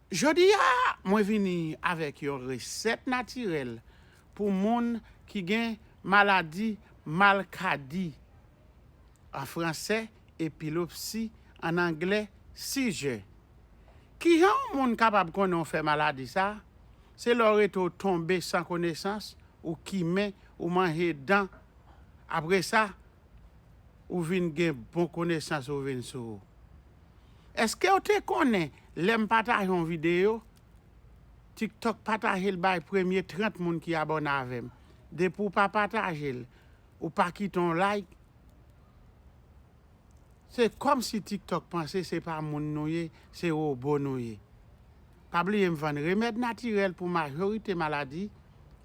Jodi a mwen vini avèk yon resèt natirèl pou moun ki gen maladi malkadi, an fransè, epilepsi, an anglè, seizure. Kijan yon moun kapab konnen w fè maladi sa? Se lè w rete w tonbe san konesans, ou kimen, ou manje dan, apresa Ou vin gen bon konesans ou vin sou. Eskew te konnen lèm pataje yon video tiktok patajel bay premye 30 moun ki abòne avèm depi ou pa patajel ou pa kite yon like se kòmsi tiktok panse se pa moun nou ye se robo nou ye Pa bliye m vann remèd natirèl pou majorite maladi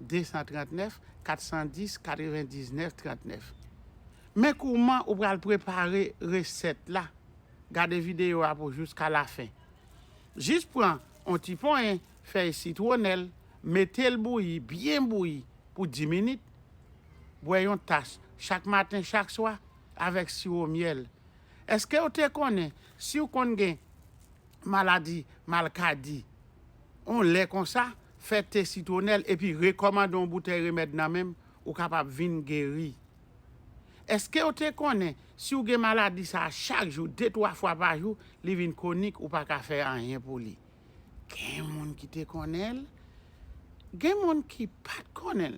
239 410 99 39 Men kouman ou pral prepare resèt la Gade videyo a pou jouska lafen Jis pran on ti ponyen fèy sitwonèl mete l bouyi byen bouyi pou 10 minit Bwè yon tas chak maten chak swa avèk siwo myèl Èskew te konnen siw konn gen maladi malkadi on lè konsa, fè te sitwonèl epi rekòmande on boutèy remèd nan menm ou kapab vin geri. Eskew te konnen siw gen maladi sa chak jou de twa fwa pa jou li vin konik ou paka fè anyen pou li? Gen moun ki te konnenl, gen moun ki pat konnenl.